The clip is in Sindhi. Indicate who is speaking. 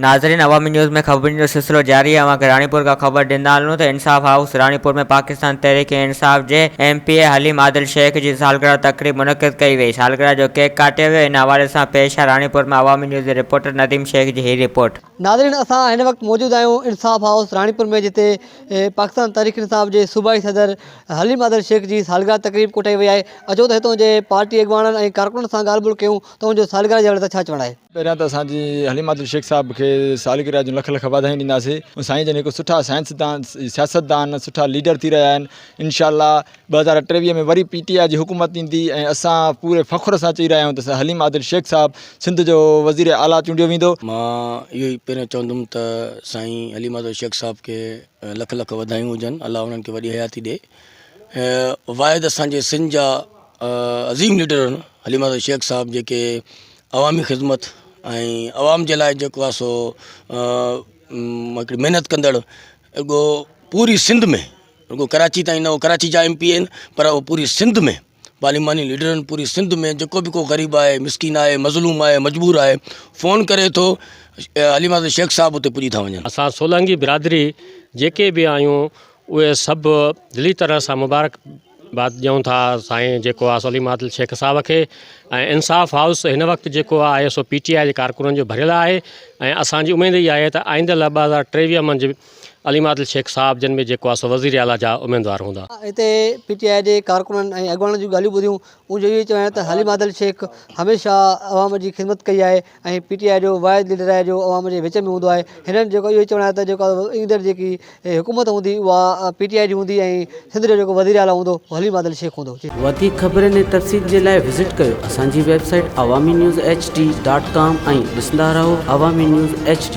Speaker 1: ناظرين عوامي نيوز ۾ خبرن جو سلسلو جاري آهي اوهان کي راڻيپور کان خبر ڏيندا هلون ته انصاف هائوس راڻيپور ۾ پاڪستان تحريڪ انصاف جي M P A Haleem Adil Sheikh جي سالگرهه تقريب منعقد ڪئي وئي سالگرهه جو ڪيڪ ڪاٽيو ويو ان حوالي سان پيش آهي راڻيپور مان عوامي نيوز جي رپورٽر نديم شيخ جي هي رپورٽ. ناظرين اسان هن
Speaker 2: وقت موجود آهيون انصاف هائوس راڻيپور ۾ جتي پاڪستان تحريڪ انصاف جي صوبائي صدر حليم عادل شيخ جي سالگرهه تقريب ڪوٺائي وئي آهي اچو ته هتون جي پارٽي اڳواڻن ۽ ڪارڪنن سان ڳالهه ٻولهه ڪيون ته ان جو سالگرهه جي حوالي سان ڇا چوڻ آهي. پهريان ته اسان جي
Speaker 3: حليم عادل شيخ صاحب کي سالگرهه جون لک لک واڌايون ڏينداسين سائين جن هڪ سٺا سائنسدان سياستدان سٺا ليڊر ٿي رهيا آهن انشاء الله ٻه هزار ٽيويهه ۾ وري پي ٽي آء جي حڪومت ايندي ۽ اسان پوري فخر سان چئي رهيا آهيون ته حليم عادل شيخ صاحب سنڌ جو وزير اعليٰ چونڊيو ويندو. مان اهو ئي
Speaker 4: پهريان چوندم ته سائين حليم عادل شيخ صاحب کي لک لک وڌايون هجن الله انهن کي وڏي حياتي ڏي واحد اسان جي سنڌ جا عظيم ليڊر هن حليم عادل شيخ صاحب جيڪي عوامي خدمت ۽ عوام جي لاء جيڪو آهي سو هڪڙي محنت ڪندڙ اڳو پوري سنڌ ۾ رڳو ڪراچي تائين نه هو ڪراچي جا ايم پي اي آهن پر اهو پوري سنڌ ۾ پارلياماني ليڊرن پوري سنڌ ۾ جيڪو به ڪو غريب آهي مسڪين آهي مظلوم آهي مجبور آهي فون ڪري ٿو علي محمد شيخ صاحب اتي پڄي ٿا وڃن اسان سولانگي برادري
Speaker 5: جيڪي به آهيون اهي سڀ دلي طرح سان مبارڪ بات ڏيون ٿا سائين جيڪو آ سو علي محمد شيخ صاحب کي ۽ انصاف هائوس هن وقت جيڪو آهي سو پي ٽي آء جي ڪارڪنن جو ڀريل آهي ۽ اسانجي اميد اها آهي ته آئنده لاء ٻه هزار ٽيويهه منجهه عليم عادل شيخ صاحب جن ۾ جيڪو آ سو وزير اعليٰ جا اميدوار هوندا. هتي پي ٽي آء
Speaker 2: جي ڪارڪنن ۽ اڳواڻن جون ڳالهيون ٻڌيون ان جو اهو ئي چوڻ آهي ته عليم عادل شيخ هميشه عوام جي خدمت ڪئي آهي ۽ پي ٽي آء جو واحد ليڊر آهي جو عوام جي وچ ۾ هوندو آهي هنن جيڪو اهو ئي چوڻ آهي ته جيڪو ايندڙ جيڪي حڪومت هوندي اها پي ٽي آء جي هوندي ۽ سنڌ جو جيڪو وزير اعليٰ هوندو اهو عليم عادل شيخ هوندو. وڌيڪ خبرن ۽
Speaker 6: تفصيل جي لاء وزٽ ڪيو اسان جي website Awami news HD dot com ۽ ڏسندا رهو عوامي نيوز HD.